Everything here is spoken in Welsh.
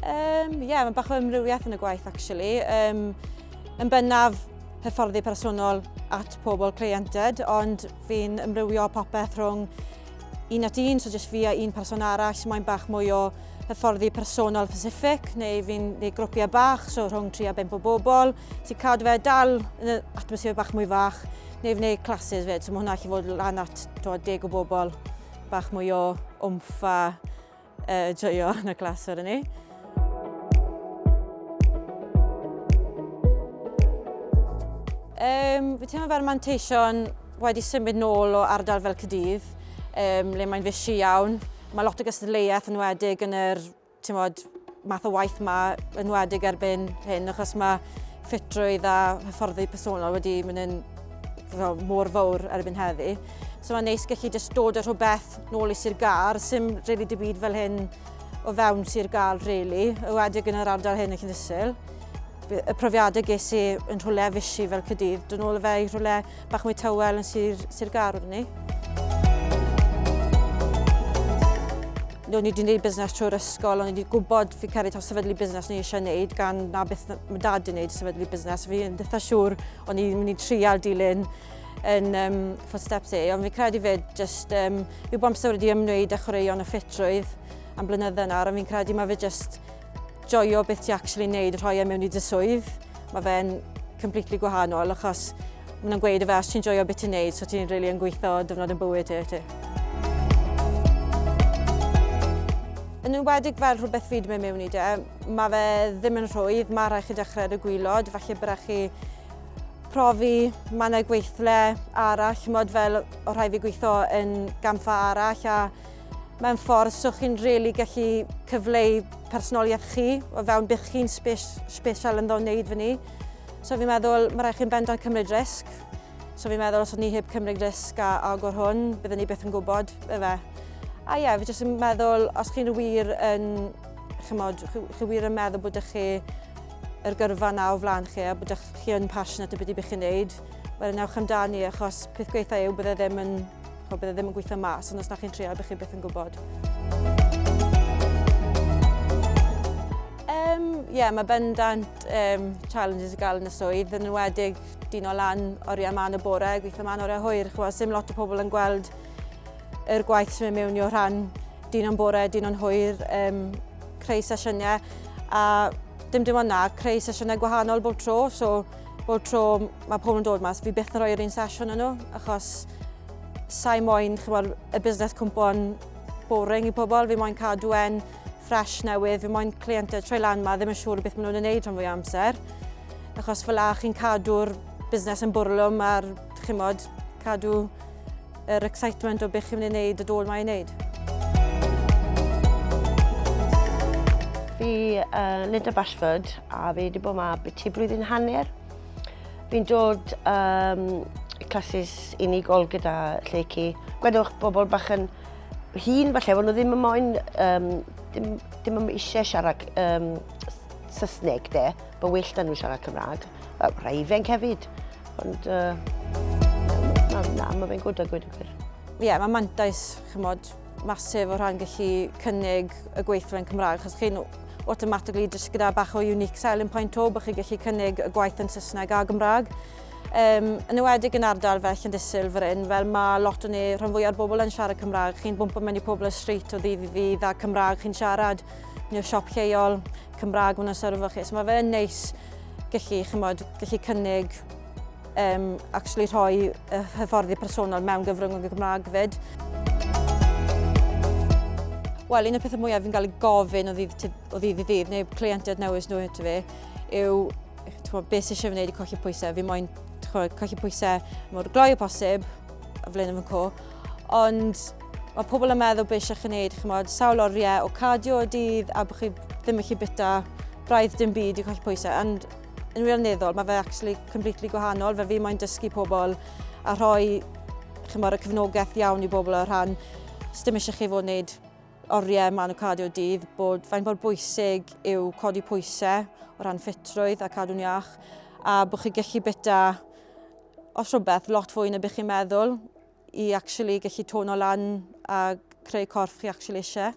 Um, yeah, mae bach o ymrywiaeth yn y gwaith, actually. Um, yn bennaf hyfforddi personol at pobl cleiented, ond fi'n ymrywio popeth rhwng un at un, so jyst fi a un person arall, mae'n bach mwy o hyfforddi personol specific, neu fi'n neu grwpiau bach, so rhwng 3 a 5 o bobl, sy'n cadw fe dal yn y atmosffer bach mwy fach, neu fi'n gwneud classes fyd, so mae hwnna allu fod lan at 10 o bobl, bach mwy o wmff a uh, joio yn y glas wedyn ni. Um, fi teimlo fel manteision wedi symud nôl o ardal fel Cydydd, um, le mae'n fysi iawn. Mae lot o gystadleuaeth yn wedig yn yr tymod, math o waith yma, yn wedig erbyn hyn, achos mae ffitrwydd a hyfforddi personol wedi mynd yn mor fawr erbyn heddi. So mae'n neis gallu just dod â rhywbeth nôl i Sir Gar, sy'n really dim byd fel hyn o fewn Sir Gar, really, y wedig yn yr ardal hyn y Llynysil. Y profiadau ges i yn rhywle fisi fel Cydydd, dyn nhw'n fe i rhywle bach mwy tywel yn Sir, Sir Gar wrth ni. o'n i wedi gwneud busnes trwy'r ysgol, o'n i wedi gwybod fi cael ei taw sefydlu busnes o'n i eisiau gwneud gan na beth mae dad wedi gwneud sefydlu busnes. Fi yn dda siŵr o'n i'n mynd i trial dilyn yn um, footsteps e, ond fi'n credu fe jyst um, yw bod amser wedi ymwneud â chwaraeon a ffitrwydd am blynyddoedd nawr, ond fi'n credu mae fe jyst joio beth ti actually wneud y rhoi e mewn i dy swydd. Mae fe'n completely gwahanol achos maen nhw'n gweud y fe os ti'n joio beth ti'n wneud, so ti'n really yn gweithio dyfnod yn bywyd ti. ti. Yn enwedig fel rhywbeth fi wedi mynd mewn i de, mae fe ddim yn rhwydd, mae rhaid chi dechrau ar y gwylod, falle bod chi profi mannau gweithle arall, chymod fel o rhai fi gweithio yn gamfa arall a mewn ffordd so chi'n really gallu cyfleu personoliaeth chi o fewn bych chi'n special yn ddo wneud fyny. So fi'n meddwl, mae rhaid chi'n bendant cymryd risg. So fi'n meddwl, os o'n ni heb cymryd risg a agor hwn, byddwn ni beth yn gwybod, efe. A ie, fi jyst yn meddwl, os chi'n wir yn, chymod, chi, chi wir yn meddwl bod ych chi yr gyrfa yna o flaen chi a bod chi yn passionate o beth i bych chi'n neud, wel yn ewch amdani achos peth gweitha yw bydde ddim yn, o, bydde ddim yn gweithio mas, ond os da chi'n treol bych chi beth yn gwybod. Um, yeah, mae bendant um, challenges i gael yn y swydd, yn enwedig dyn o lan oriau man y bore, gweithio man oriau hwyr, chwa, sy'n lot o pobl yn gweld yr gwaith sy'n mynd mewn i o rhan Dyn o'n bore, dyn o'n hwyr, um, creu sesiynau a dim dim ond na, creu sesiynau gwahanol bob tro, so bob tro mae pobl yn dod mas, fi byth yn rhoi'r un sesiwn yn nhw, achos sa'i moyn chymod, y busnes cwmpo'n boring i pobl, fi moyn cadw e'n ffres newydd, fi moyn cleientau troi lan ma ddim yn siŵr beth maen nhw'n ei wneud rhan fwy amser, achos fel a chi'n cadw'r busnes yn bwrlwm a'r chymod, cadw Yr excitement o beth chi'n mynd i wneud y dôl mae i wneud. Fi uh, Linda Bashford a fi wedi bod yma byti blwyddyn hanner. Fi'n dod um, classes unigol gyda Lleucu. Gwedwch bobl bach yn hun falle, ond nhw ddim yn moyn, um, dim, dim yn eisiau siarad um, Saesneg de, bod well da nhw siarad Cymraeg. Raifenc hefyd. Ond, uh, na, na, mae fe'n gwrdd â gwyd y gwir. Ie, yeah, mae mantais, chymod, masif o rhan gallu cynnig y gweithlen Cymraeg, achos chi'n automatically jyst gyda bach o unique selling point o, bych chi gallu cynnig y gwaith yn Saesneg a Gymraeg. Um, yn ywedig yn ardal fel Llandysil fy ryn, fel mae lot o ni, rhan fwy o'r bobl yn siarad Cymraeg, chi'n bwmpa mewn i pobl y street o ddydd i ddydd a Cymraeg chi'n siarad, neu siop lleol, Cymraeg maen nhw'n syrfo chi. So mae fe yn neis gallu, chymod, gallu cynnig um, actually rhoi y hyfforddi personol mewn gyfrwng y Gymraeg fyd. Wel, un o'r pethau mwyaf fi'n cael ei gofyn o ddydd, o ddydd i ddydd, neu cleientiaid newydd nhw hyd fi, yw twa, beth sy'n eisiau gwneud i colli pwysau. Fi moyn colli pwysau mor gloi o posib, a flaen yn fy co, ond mae pobl yn meddwl beth eisiau chi wneud, chymod, sawl oriau o cardio y dydd a bod chi ddim yn chi bita braidd dim byd i colli pwysau. And yn wirioneddol, mae fe actually completely gwahanol, fe fi moyn dysgu pobl a rhoi chymod, y cyfnogaeth iawn i bobl o rhan sydd ddim eisiau chi fod wneud oriau man o cardio dydd, bod fain bod bwysig yw codi pwysau o ran ffitrwydd a cadw'n iach, a bod chi gallu bita os rhywbeth lot fwy na bych chi'n meddwl, i actually gallu tono lan a creu corff chi actually eisiau.